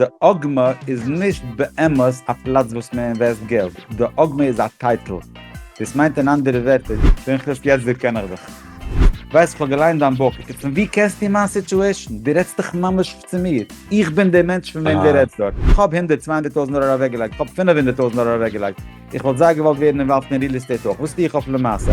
די עגמה איז נישט באמת א פלאץ וואס מען אינוועסט געלט, די עגמה איז א טייטל. דאס מיינט אין אנדערע ווערטער. פנחס יעצט דערקען איך דיך. ווייסט כ'האב געליינט דיין בוך, איצט פון ווי קענסטו מיין סיטועשן? דו רעדסט דאך ממש צו מיר. איך בין דער מענטש פון וועם דו רעדסט דארט. כ'האב הונדערט צוויי הונדערט טויזנט דאלאר אוועקגעלייגט, כ'האב פינף הונדערט טויזנט דאלאר אוועקגעלייגט. איך וואלט זייער געוואלט ווערן אינוואלווד אין ריעל עסטעיט אויך. וואס טו איך אויף למעשה?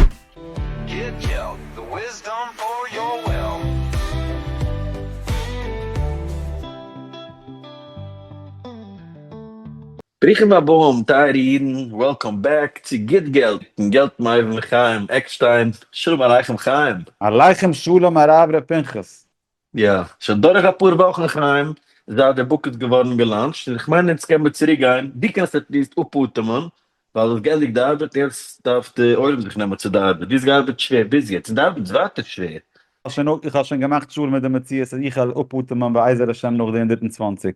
ברוכים הבאים טייערע אידן, וועלקאם בעק צו גוט געלט און געלט מיט אייוועלט חיים עקשטיין, שלום עליכם חיים. עליכם שלום הרב ר' פנחס. יא, שוין דורך אפאר וואכן חיים זייט די בוק איז געווארן געלאנטשט, און איך מיין יעצט קען מען צוריק גיין, דו קענסט עטליעסט אפאטעמען, ווייל דו האסט גענדיגט די ארבעט, יעצט דארף די עולם זיך נעמען צו די ארבעט, דו האסט געארבעט שווער ביז יעצט, און די ארבעט איז ווייטער שווער. איך האב שוין געמאכט שלום מיט די מציאות אז איך וועל אפאטעמען בעזר השם נאך די הונדערט און צוואַנציק.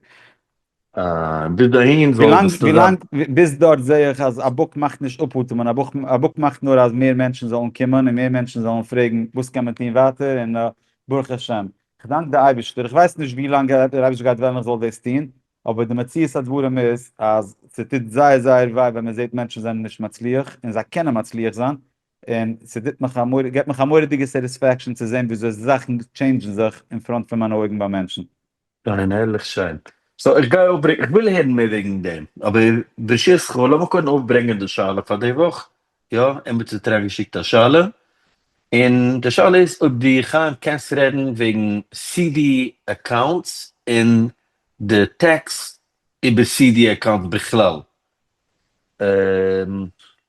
און ביז דאהין זאל עס נישט זיין. ביז דארט זעה איך אז א בוק מאכט נישט אפ אטעמען, א בוק מאכט נאר אז מער מענטשן זאלן קומען און מער מענטשן זאלן פרעגן וואס קען מען טון ווייטער און ברוך השם. כ'דאנק די אייבישטער, איך ווייס נישט ווי לאנג דער אייבישטער גייט וועלן איך זאל דאס טון, אבער די מציאות הדברים איז אז ס'טוט זייער זייער וויי ווען מ'זעט מענטשן זענען נישט מצליח און זיי קענען מצליח זיין, און ס'טוט מיך א מורא'דיגע, געבט מיך א מורא'דיגע סעטיספעקשאן צו זען וויאזוי זאכן טשעינדזשן זיך אין פראנט פון מיינע אויגן ביי מענטשן. פיין הערליך שיין. סאו איך גיי אויפברענגען, איך וויל הערן מער וועגן דעם, אבער ברשותך לאמיר קודם אויפברענגען די שאלה פאר די וואך, יא, עמיצער האט אריינגעשיקט א שאלה, און די שאלה איז אויב דו חיים קענסט רעדן וועגן סי די אקאונטס און די טעקס איבער סי די אקאונטס בכלל.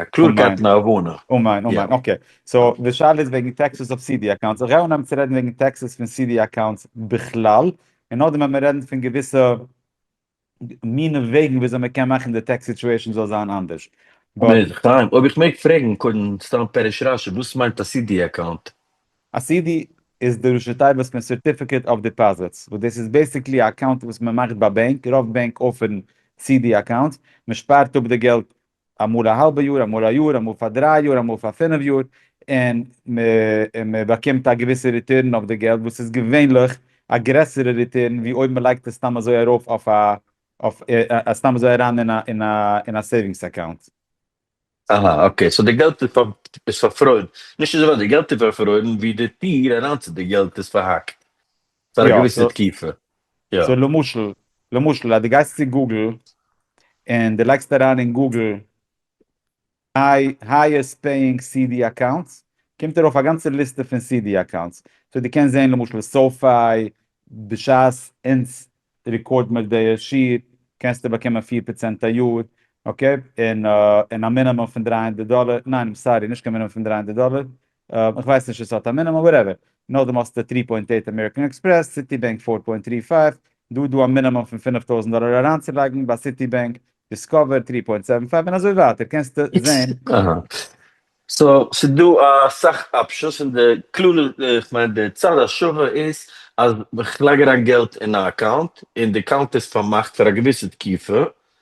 א קלארקייט און א הבנה. אמן אמן אקעי סאו די שאלה איז וועגן טעקסעס אויף סידי אקאונטס איך גיי אנהייבן צו רעדן וועגן טעקסעס פון סידי אקאונטס בכלל און נאכדעם וועל מען רעדן פון געוויסע מיני וועגן וויאזוי מען קען מאכן די טעקס סיטועשאן זאל זיין אנדערש. חיים אויב איך מעג פרעגן קודם סתם פרש רשי וואס מיינט א סידי אקאונט? א סידי איז די ראשי תיבות פון סערטיפיקעט אוו דיפאזיטס וואס דאס איז בעסיקלי א אקאונט וואס מען מאכט ביי בענק רוב בענק אפערן סידי אקאונטס מען שפארט אפ די געלט אמאל א האלבע יאר, אמאל א יאר, אמאל פאר דריי יאר, אמאל פאר פינף יאר, און מען באקומט א געוויסע ריטורן אויף די געלט, וואס איז געווענליך א גרעסערע ריטורן ווי אויב מען לייגט עס סתם אזוי ארויף אויף סתם אזוי אריין אין א סעיווינגס אקאונט. אהא אקעי, סאו די געלט איז פארפרוירן, נישט אזוי ווייט, די געלט איז פארפרוירן ווי די טיר אריין צו די געלט איז פארהאקט. פאר א געוויסע תקופה, יא. סאו למשל, למשל אז דו גייסט צו גוגל און דו לייגסט אריין אין גוגל הייעסט פעיאינג CD אקאונטס, קומט ארויף א גאנצע ליסטע פון CD אקאונטס. סאו דו קענסט זען למשל סאופיי, בשעת אונז רעקארד מיר די שיעור קענסטו באקומען פֿיר פראצענט א יאר, אקעי, און א מינימום פון דרײַ הונדערט דאלער, ניין איים סארי נישט קיין מינימום פון דרײַ הונדערט דאלער, איך ווייס נישט עס האט א מינומים וואטעווער, נאכדעם האסטו טרי פוינט עיט אמעריקען עקספרעס, סיטי בענק פֿיר פוינט טרי פֿײַף, דא איז דא א מינומים פון פֿינף טויזנט דאלער אריינצולייגן ביי סיטי בענק, דיסקאווער טרי פוינט סעווען פֿײַוו און אזוי ווייטער קענסטו זעהן. אהא, סא ס'דא אסאך אפשענס און די כלל איך מיין די צד השווה איז אז כ'לייג אריין געלט אין א אקאונט און די אקאונט איז פארמאכט פאר א געוויסע תקופה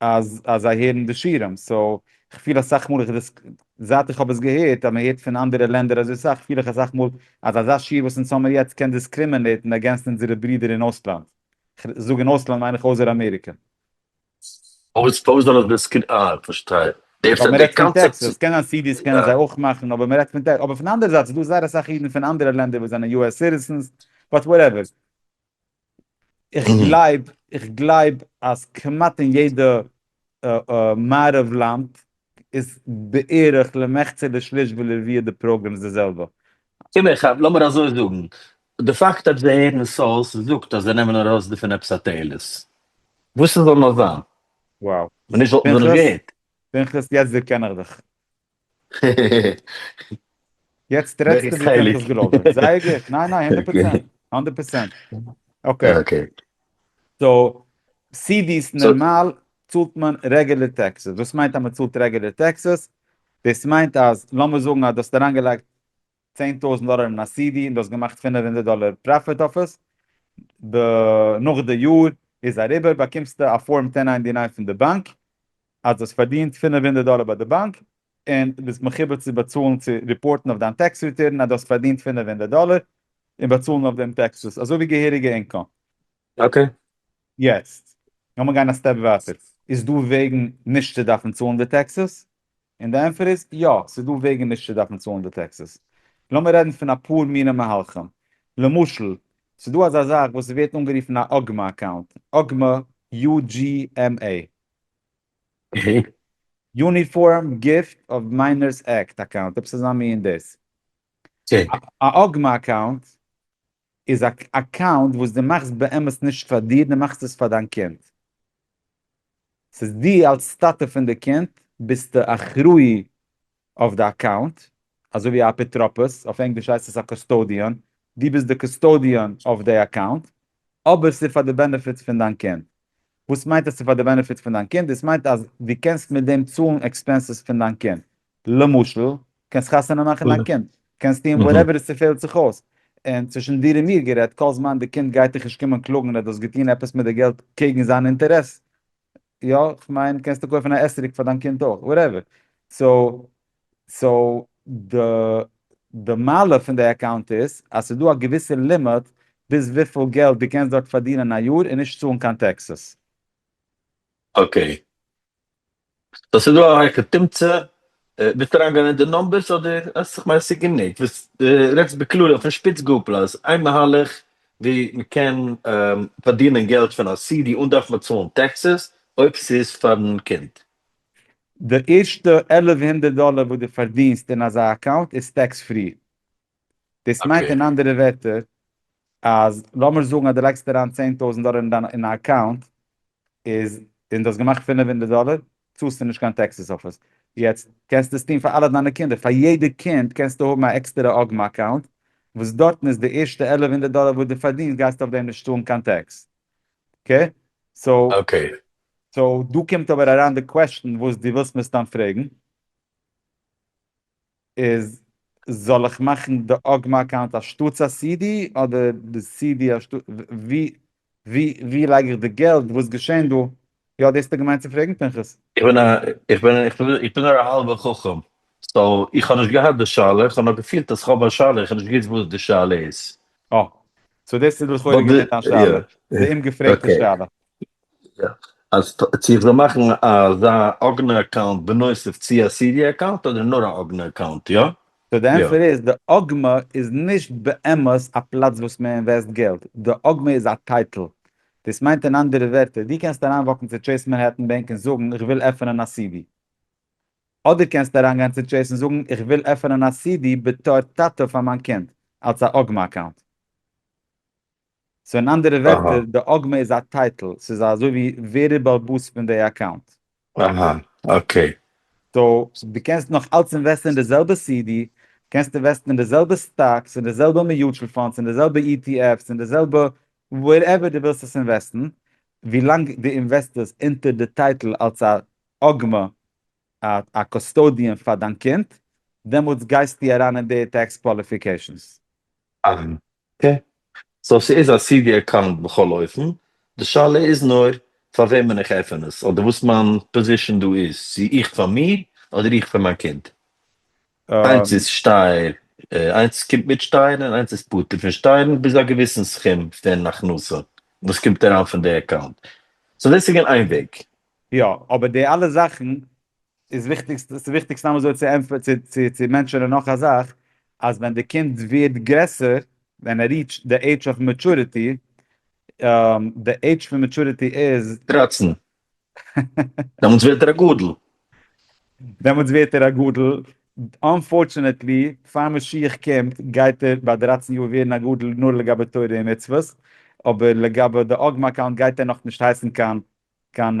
אז אז זיי הערן די שירים, סאו כ'פיל אסאך מאל איך דאס זייט איך האב עס געהערט אז מ'הערט פון אנדערע לענדער אזוי סאך, פיל איך אסאך מאל אז אזא שיר וואס אונז האמיר יעצט קען דיסקרימינעיטן אגענסט אונזערע ברידער אין אויסלאנד, כ'זאג אין אויסלאנד מיין איך אויסער אמעריקע. פארוואס פארוואס זאל עס דיסקרי אה כ'פארשטיי ווייל די מ'רעדט פון קאנצעפט טעקסעס, קענען סידיס קענען זיי אויך מאכן אבער מ'רעדט פון טעק אבער פון אנדערע זייט ס'דא זייער אסאך אידן פון אנדערע לענדער וואס זענען יו עס סיטיזענס באט וואטעווער. איך גלייב, איך גלייב אז כמעט אין יעדע מערב לאנד איז בערך למחצה לשליש ולרביע די פראגרעם איז די זעלבע. קום איך האב, לאמיר אזוי זאגן, די פאקט אז זיי הערן סאוס זאגט אז זיי נעמען ארויס דערפון עפעס א תועלת. וואס ס'זאל נאר זיין. וואו. מען נישט וואלטן זיי נישט געהערט. פנחס יעצט דערקען איך דיך. יעצט רעדסטו ווי איך האב דאס געלאזט זיין, זייער גוט, ניין ניין הונדערט פראצענט, הונדערט פראצענט, אקעי, סאו סידיס נערמאל צאלט מען רעגולער טעקסעס, וואס מיינט אז מען צאלט רעגולער טעקסעס? דאס מיינט אז לאמיר זאגן אז דו האסט אריינגעלייגט צען טויזענט דאלער אין א סידי און דו האסט געמאכט פֿינף הונדערט דאלער פראפיט אויף עס, ב נאך די יאר איז אריבער באקומסטו א פארם טען ניינטי ניין פון די באנק אז דו האסט פארדינט פֿינף הונדערט דאלער ביי די באנק און ביסט מחויב צו באצאלן צו ריפארטן אויף דיין טעקס ריטורן אז דו האסט פארדינט פֿינף הונדערט דאלער און באצאלן אויף דעם טעקסעס אזוי ווי געהעריגע אינקאם. אקעי. יעצט לאמיר גיין א סטעפ ווייטער, איז דא וועגן נישט צו דארפן צאלן די טעקסעס? און די ענטפער איז, יא, ס'איז דא וועגן נישט צו דארפן צאלן די טעקסעס. לאמיר רעדן פון אפאר מינע מהלכים. למשל, ס'איז דא אזא זאך וואס ווערט אנגערופן א אגמא אקאונט, אגמא, UGMA, יוניפארם גיפט אוו מיינערס עקט אקאונט, עפעס אזא מין דאס. א אגמא אקאונט איז א אקאונט וואס דו מאכסט באמת נישט פאר דיר, דו מאכסט עס פאר דיין קינד. ס'איז דו אלס טאטע פון די קינד ביסטו אחראי אויף די אקאונט, אזוי ווי א אפוטרופוס, אויף ענגליש הייסט עס א קוסטאדיאן, דו ביסט די קוסטאדיאן אויף די אקאונט, אבער ס'איז פאר די בענעפיט פון דיין קינד. וואס מיינט אז ס'איז פאר די בענעפיט פון דיין קינד? דאס מיינט אז דו קענסט מיט דעם צאלן עקספענסעס פון דיין קינד. למשל, קענסט חתונה מאכן דיין קינד, קענסט טון וואטעווער עס צופעלט זיך אויס, און צווישן דיר און מיר גערעדט, כל זמן די קינד גייט דיך נישט קומען קלאגן אז דו האסט געטון עפעס מיט די געלט קעגן זיין אינטערעס, יא, כ'מיין קענסטו קויפן א עסצוריק פאר דיין קינד אויך, וואטעווער, סאו, סאו, די, די מעלה פון די אקאונט איז אז ס'איז דא א געוויסע לימיט ביז וויפיל געלט דו קענסט דארט פארדינען א יאר און נישט צאלן קיין טעקסעס. אקעי, סאו ס'איז דא א הויכע תמצא, ווילסט אריינגיין אין די נומבערס אדער אז כ'מיין ס'איז גענוג, דו רעדסט בכללי אויפן שפיץ גאפל אז איין מהלך ווי מ'קען פארדינען געלט פון א סידי אן דארפן באצאלן טעקסעס אויב ס'איז פארן קינד. די ערשטע עלף הונדערט דאלער וואס דו פארדינסט אין אזא אקאונט איז טעקס פרי. דאס מיינט אוקיי. אין אנדערע ווערטער אז לאמיר זאגן אז דו לייגסט אריין צען טויזנט דאלער אין דיין אין א אקאונט איז און דו האסט געמאכט פֿינף הונדערט דאלער צאלסטו נישט קיין טעקסעס אויף עס יעצט קענסטו דאס טון פאר אלע דיינע קינדער פאר יעדע קינד קענסטו האבן א עקסטערע אגמ אקאונט וואס דארטן איז די ערשטע עלף הונדערט דאלער וואס דו פארדינסט גייסטו אויף דעם נישט צאלן קיין טעקס אקעי סאו אקעי. סאו דא קומט אבער אריין די קוועסטשן וואס דו ווילסט מסתם פרעגן. איז זאל איך מאכן די אגמא אקאונט אנשטאטס א סי די אדער די סי די אנשטאטס ווי ווי ווי לייג איך די געלט וואס געשען דא יא דאס האסטו געמיינט צו פרעגן פנחס? איך בין א איך בין איך בין איך בין נאר א האלבע חכם סאו איך האב נישט געהאט די שאלה איך האב נאר געפילט אז איך האב א שאלה איך האב נישט געוויסט וואס די שאלה איז. אה. סאו דאס איז לכאורה געווען דיין שאלה. די אומגעפרעגטע שאלה. אז צו איך זאל מאכן אזא אגענע אקאונט בנוסף צו א סידי אקאונט אדער נאר א אגענע אקאונט יא? סאו די ענטפער איז די אגמע איז נישט באמת א פלאץ וואס מען אינוועסט געלט, די אגמע איז א טייטל. דאס מיינט אין אנדערע ווערטער דו קענסט אריינוואקן צו טשעיס מענהעטן בענק און זאגן איך וויל עפענען א סידי. אדער קענסטו אריינגיין צו טשעיס און זאגן איך וויל עפענען א סידי בתור טאטע פאר מיין קינד אלס א אגמע אקאונט. סאו אין אנדערע ווערטער די אגמא איז א טייטל, ס'איז אזוי ווי ווער איז באלבאס פון די אקאונט. אהא אקעי. סאו דו קענסט נאך אלץ אינוועסטן אין די זעלבע סידי, קענסט אינוועסטן אין די זעלבע סטאקס, אין די זעלבע מיוטשעל פאנדס, אין די זעלבע אי טי עף'ס, אין די זעלבע ווערעווער דו ווילסט עס אינוועסטן, ווילאנג דו אינוועסטערסט אונטער די טייטל אלץ א אגמא, א קאסטאדיען פאר דיין קינד, דעמאלטס גייסטו אריין אין די טעקס קוואליפיקעישאנס. אהא אקעי. סאו ס'איז א סי די אקאונט בכל אופן, די שאלה איז נאר פאר וועמען איך עפען עס, אדער וואס מיין פאזישאן דא איז, צו איך פאר מיר אדער איך פאר מיין קינד. איינס איז שטייער, איינס קומט מיט שטייערן און איינס איז פטור פון שטייערן ביז א געוויסן סכום פון הכנסה וואס קומט אריין פון די אקאונט, סאו דאס איז געווען איין וועג. יא, אבער די אלע זאכן ס'איז וויכטיג, ס'איז וויכטיג סתם אזוי צו ענטפערן, צו צו צו מענטשענען נאך א זאך, אז ווען די קינד ווערט גרעסער, ווען ער ריעטשט די עידזש אוו מעטשורעטי, די עידזש פון מעטשורעטי איז. דרײַצן. דעמאלטס ווערט ער א גדול. דעמאלטס ווערט ער א גדול. אנפארטשענעטלי, פאר משיח קומט, גייט ער ביי דרײַצן יאר ווערן א גדול נאר לגבי תורה און מצוות, אבער לגבי די אגמא אקאונט גייט ער נאכנישט הייסן קיין קיין.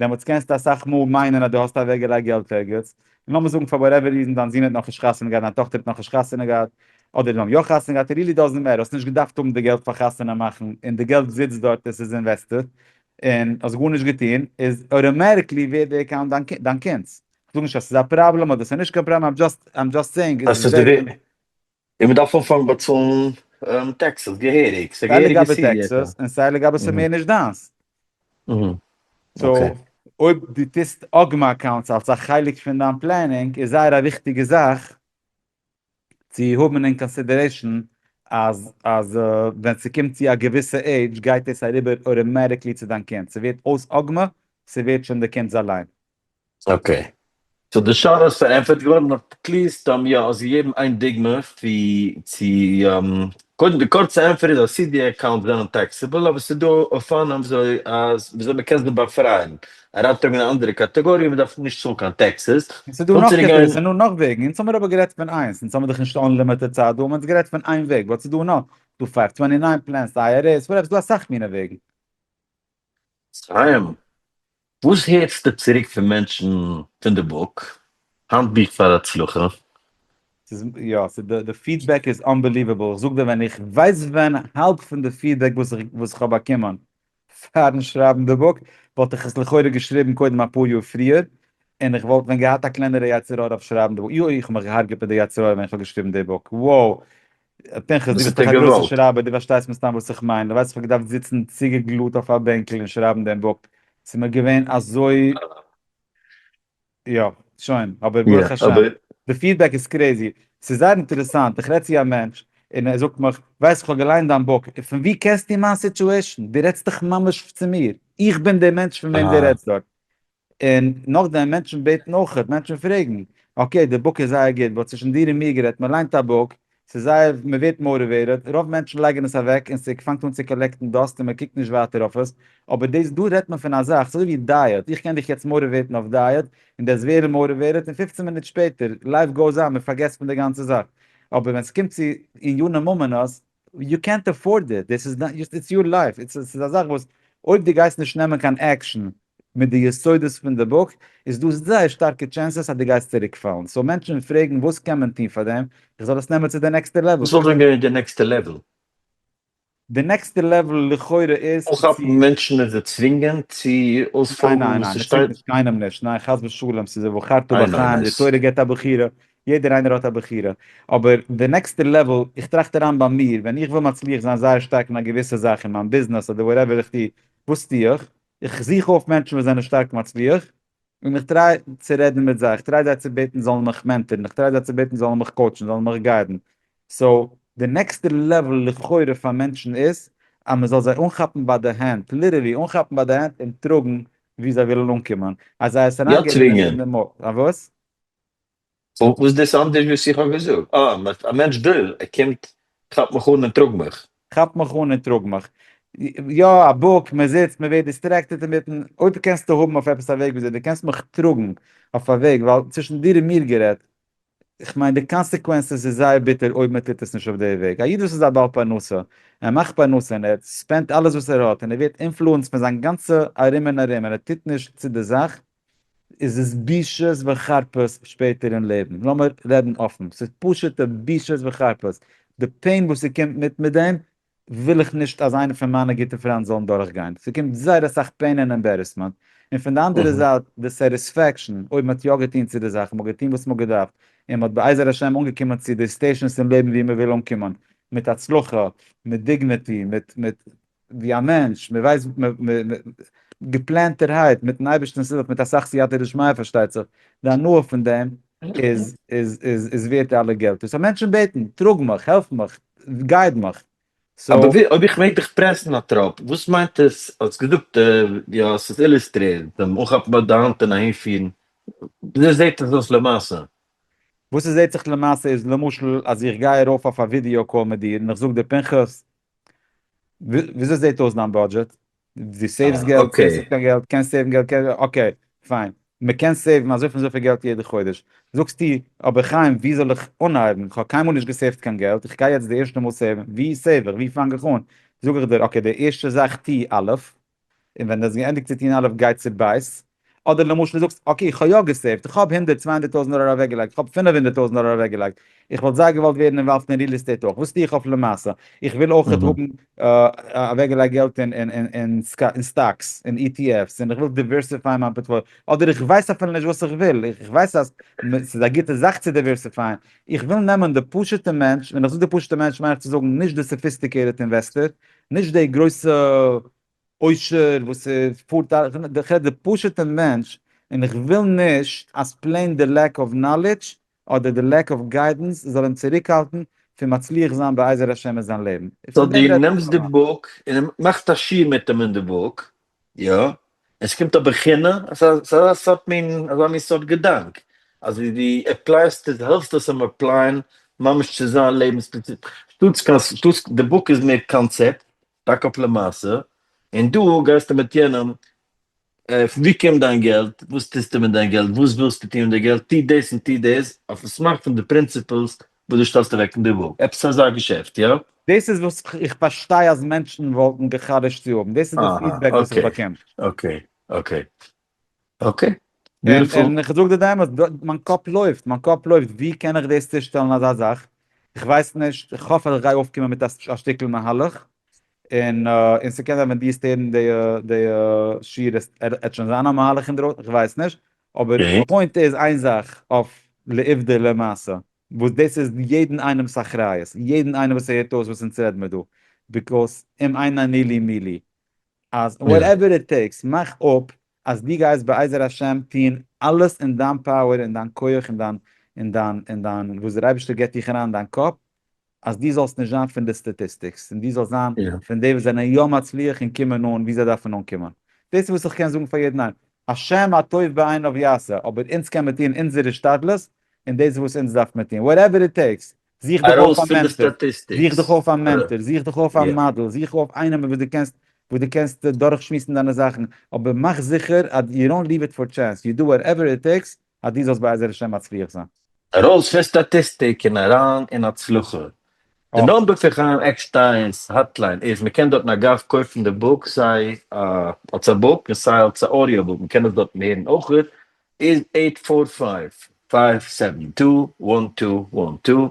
דעמאלטס קענסטו אסאך מאל מיינען אז דו האסט אוועקגעלייגט געלט ערגעץ, און לאמיר זאגן פאר וואטעווער ריזן דיין זון האט נאכנישט חתונה געהאט, דיין טאכטער האט נאכנישט חתונה געהאט, אדער זיי האבן יא חתונה געהאט, איט ריעלי דאזענט מעטער, האסט נישט געדארפט האבן די געלט פאר חתונה מאכן, און די געלט זיצט דארט און ס'איז אינוועסטעד, און האסט גארנישט געטון, איז אוטאמעטיקלי ווערט די אקאונט דיין קינד'ס. איך זאג נישט אז ס'איז א פראבלעם אדער ס'איז נישט קיין פראבלעם, איים דזשאסט סעינג. און מען דארף אנפאנגן באצאלן טעקסעס געהעריג, ס'איז א סיי געהעריגע לגבי סידי עפעס. טעקסעס און סיי לגבי ס'איז מער נישט דיינס. אהה אקעי. סאו אויב דו טוסט אגמא אקאונטס אלס א חלק פון דיין פלענינג איז זייער א וויכטיגע זאך צו האבן אין קאנסידערעישן אז אז ווען ס'קומט צו א געוויסע עידזש גייט דאס אריבער אוטאמעטיקלי צו דיין קינד, ס'ווערט אויס אגמא, ס'ווערט שוין די קינד'ס אליין. אקעי. סאו די שאלה איז פארענטפערט געווארן, אויב קלערסט דאן יא האסט געגעבן איין דוגמא ווי צו קודם די קורצע ענטפער איז אז סידי אקאונטס זענען טעקסעבל אבער ס'איז דא אופנים וויאזוי מ'קען זיי באפרייען אריינטראגן אין א אנדערע קאטאגאריע און מ'דארף נישט צאלן קיין טעקסעס. און ס'איז דא נאך קעטעגאריס און נאך וועגן, אונז האמיר אבער גערעדט פון איינס, אונז האמיר דאך נישט אנלימיטעד צייט דא, מ'האט גערעדט פון איין וועג, באט ס'איז דא נאך, ס'איז דא פייוו טווענטי ניין פלענס, אייערעס, וואטעווער, ס'איז דא אסאך מינע וועגן. חיים, וואס הערסטו צוריק פון מענטשן פון די בוק, האנטבוך פאר הצלחה? ס'איז יא, די פידבעק איז אנבעליוועבל, איך זאג דיר ווען איך ווייס ווען האלב פון די פידבעק וואס איך האב באקומען פארן שרייבן די בוק, וואלט איך עס לכאורה געשריבן קודם אפאר יאר פריער, און איך וואלט ווען געהאט א קלענערע יצר הרע אויף שרייבן די בוק, יוי איך האב מיך געהארגעט מיט די יצר הרע ווען איך האב געשריבן די בוק, wow פנחס, דו ביסט דאך א גרויסער שרייבער, דו פארשטייסט מן הסתם וואס איך מיין, דו ווייסט איך האב געדארפט זיצן צוגעגלאט אויף א בענקל און שרייבן דעם בפ, ס'איז מיר געווען אזוי, יא, שוין, אבער ברוך השם, די פידבעק איז קרעזי, ס'איז זייער אינטערעסאנט, איך רעד צו א מענטש, און ער זאגט מיך, ווייסט איך האב געליינט דיין בוק, און פון וואו קענסטו מיין סיטועשן? דו רעדסט דאך ממש צו מיר, איך בין דער מענטש פון וועם דו רעדסט דארט. און נאכדעם מענטשן בעטן אויכעט, מענטשן פרעגן, אקעי די בוק איז זייער גוט, באט צווישן דיר און מיר גערעדט, מען ליינט א בוק, ס'איז זייער, מען ווערט מאוטיוועיטעד, רוב מענטשן לייגן עס אוועק און ס'פאנגט אן צו קאלעקטן דאסט און מען קוקט נישט ווייטער אויף עס, אבער דאס דא רעדט מען פון א זאך, ס'איז אזוי ווי דייעט, איך קען דיך יעצט מאוטיוועיטן אויף דייעט, און דו וועסט ווערן מאוטיוועיטעד און פֿופֿצן מינוט שפעטער, לייף גאוס אן, מען פארגעסט פון די גאנצע זאך. אבער ווען ס'קומט צו ענייני ממונות, יו קענט עפארד איט, דאס איז, איטס יור לייף, ס'איז א זאך וואס אויב דו גייסט נישט נעמען קיין עקשאן, מיט די יסודות פון די בוק איז דא זייער שטארקע טשענסעס אז דו גייסט צוריק פאלן, סאו מענטשן פרעגן וואס קען מען טון פאר דעם, איך זאל עס נעמען צו די נעקסטע לעוועל? וואס וואלט ווען געווען די נעקסטע לעוועל? די נעקסטע לעוועל לכאורה איז צו. אנכאפן מענטשן און זיי צווינגען צו ניין אויספאלגן ניין וואס ניין, ס'שטייט. מ'צווינגט קיינעם נישט, ניין חס ושלום, ס'איז ובחרת איי בחיים, די נאויס. תורה געבט א בחירה, יעדער איינער האט א בחירה, אבער די נעקסטע לעוועל, איך טראכט אריין ביי מיר, ווען איך וויל מצליח זיין זייער שטארק אין א געוויסע זאך אין מיין ביזנעס אדער וואטעווער איך טו, וואס טו איך? איך זוך אויף מענטשן וואס זענען שטארק מצליח, און איך טריי צו רעדן מיט זיי, איך טריי זיי צו בעטן זאלן מיך מענטערן, איך טריי זיי צו בעטן זאלן מיך קאוטשן, זאלן מיך גיידן. סאו, די נעקסטע לעוועל לכאורה פאר מענטשן איז, אז מען זאל זיי אנכאפן ביי די הענט, ליטערלי אנכאפן ביי די הענט און טראגן וואו זיי ווילן אנקומען. אז זיי עס אריינגעבן אין די מח. א וואס? און וואס דאס אנדערש וואס איך האב געזאגט? אה, מ'האט א מענטש דא, ער קומט, כאפ מיך אן און טראג מיך. כאפ מיך אן און טראג מיך. יא, א בוק, מען זיצט, מען ווערט דיסטרעקטעד אינמיטן, אויב קענסטו האבן אויף עפעס א וועג וויאזוי דו קענסט מיך טראגן אויף א וועג, ווייל צווישן דיר און מיר גערעדט, כ'מיין די קאנסעקווענסעס איז זייער ביטער אויב מען טוט עס נישט אויף די וועג. א איד וואס איז א בעל פרנסה, ער מאכט פרנסה און ער ספענדט אלעס וואס ער האט און ער ווערט אינפלוענסד פון זיין גאנצע ארום און ארום און ער טוט נישט צו די זאך, איז עס בושות וחרפות שפעטער אין לעבן, לאמיר רעדן אפן, ס'איז פשוט'ע בושות וחרפות, די פעין וואס ס'קומט מיט מיט דעם, וויל איך נישט אז איינע פון מיינע גוטע פריינט זאלן דורכגיין, ס'קומט זייער אסאך פעין און עמבערעסמענט, און פון די אנדערע זייט די סעטיספעקשאן, אויב מ'האט יא געטון צו די זאך, מ'האט געטון וואס מ'האט געדארפט, און מ'האט בעזר השם אנגעקומען צו די סטעישאנס אין לעבן וואו מ'וויל אנקומען, מיט הצלחה, מיט דיגניטי, מיט מיט. ווי א מענטש, מען ווייסט געפלענטערהייט מיטן אייבערשטענס הילף מיט אסאך סייעתא דשמיא פארשטייט זיך, די הנאה פון דעם איז איז ווערט אלע געלט, דאס אז מענטשן בעטן, טראג מיך, העלף מיך, גייד מיך. אבער ווי אויב איך מעג דיך פרעסן א טראפ, וואס מיינט עס, האסט געזאגט יא ס'איז אילוסטרירט, דעם אנכאפן ביי די האנט און אהין פירן, וויאזוי זעט עס אויס למעשה? וואס עס זעט זיך למעשה איז למשל אז איך גיי ארויף אויף א ווידיאו קאל מיט דיר און איך זאג דיר פנחס, וויאזוי זעהט אויס דיין בודזשעט? דו סעיווס געלט, סעיווס קיין געלט, קענסט סעיוון געלט, אקעי פיין, מען קען סעיוון אזוי פון אזויפיל געלט יעדע חודש, זאגסטו אבער חיים ווי זאל איך אנהייבן, כ'האב קיינמאל נישט געסעיווט קיין געלט, איך גיי יעצט די ערשטע מאל סעיוון, ווי סעיוו איך, ווי פאנג איך אן, זאג איך דיר אקעי די ערשטע זאך טוה אלף, און ווען דו האסט געענדיגט צו טון אלף גיי צו בית, אדער למשל זאגסט אקעי איך האב יא געסעיווט, איך האב הונדערט צוויי הונדערט טויזענט דאלער אוועק געלייגט, איך האב פינף הונדערט טויזענט דאלער אוועק געלייגט, איך וואלט זייער געוואלט ווערן אינוואלווד אין ריעל עסטעיט אויך, וואס טו איך אויף למעשה, איך וויל אויך האבן אוועק געלייגט געלט אין סטאקס און אי טי עף'ס, און איך וויל דיווערסיפייען מיין פארטפאליע, אדער איך ווייס אפילו נישט וואס איך וויל, איך ווייס אז ס'איז א גוטע זאך צו דיווערסיפייען, איך וויל נעמען די פשוטע מענטש, ווען איך זאג די פשוטע מענטש מיין איך צו זאגן נישט די סאפיסטיקעיטעד אינוועסטער, נישט די גרויסע עושר וואס פארט א, איך רעד די פשוטע מענטש, און איך וויל נישט אז פלעין די לעק אוו נאלידזש אדער די לעק אוו גיידענס זאל אים צוריקהאלטן פון מצליח זיין בעזר השם אין זיין לעבן. סאו דו נעמסט די בוק און מאכסט א שיעור מיט אים אין די בוק, יא, עס קומט אבער כינע, עס איז אזא סארט מין, אזא מין סארט געדאנק, אז ווי דו עפלייסט עס, העלפסט עס אים עפלייען ממש צו זיין לעבנס פרינציפ, שטאטס קיין שטאטס, די בוק איז מער קאנצעפט, טאקע אויף למעשה, און דא גייסטו מיט יענעם, פון ווי קומט דיין געלט, וואס טוסטו מיט דיין געלט, וואס ווילסטו טון מיט די געלט, טו דאס און טו דאס, אויפן סמך פון די פרינציפלס וואס דו שטעלסט אוועק אין די וואג, עפעס אזא געשעפט, יא? דאס איז וואס איך פארשטיי אז מענטשן וואלטן געחדש'ט צו האבן, דאס איז דאס פידבעק וואס איך באקום. אקעי, אקעי, אקעי, ביוטיפול. און איך זאג דיר די אמת, מיין קאפ לויפט, מיין קאפ לויפט, ווי קען איך דאס צושטעלן אזא זאך, איך ווייס נישט, איך האף אז איך גיי אויפקומען מיט א שטיקל מהלך, און און ס'קען זיין ווען דו וועסט הערן די שיעור עט שוין זיין א מהלך אינדרויסן, איך ווייס נישט, אבער די פוינט איז איין זאך אויף לעובדא למעשה וואס דאס איז יעדן איינעמ'ס אחריות, יעדן איינעם וואס ער הערט אויס וואס אונז רעד מיר דא, ביקאוס אם אין אני לי מי לי, אז וואטעווער איט טעיקס, מאך אפ אז דו גייסט בעזר השם טון אלעס אין דיין פאוער, אין דיין כח, אין דיין, אין דיין, אין דיין, וואס דער אייבערשטער גיבט דיך אריין אין דיין קאפ, אז דו זאלסט נישט זיין פון די סטאטיסטיקס, און דו זאלסט זיין פון די וואס זענען יא מצליח און קומען אן ווי זיי דארפן אנקומען. דאס איז וואס איך קען זאגן פאר יעדן איינעם. השם הטוב בעיניו יעשה, אבער אונז קען מיר טון אונזער השתדלות, און דאס איז וואס אונז דארף מיר טון. וואטעווער איט טעיקס. זוך דיך אויף א מענטאר. זוך דיך אויף א מענטאר. זוך דיך אויף א מאדעל. זוך אויף איינעם וואס דו קענסט וואס דו קענסט דורכשמועסן דיינע זאכן. אבער מאך זיכער אז יו דאנט ליוו איט פאר טשענס. יו דו וואטעווער איט טעיקס אז דו זאלסט בעזר השם מצליח זיין. ארויס פון סטאטיסטיק און אריין אין הצלחה. די אויך. נאמבער פון חיים עקשטיינס האטליין איז, מ'קען דארטן אגב קויפן די בוק סיי אלס א בוק און סיי אלס א אודיאו בוק, מ'קען עס דארטן הערן אויך, איז עיט פאר פייוו, פייוו סעווען טו, וואן טו, וואן טו,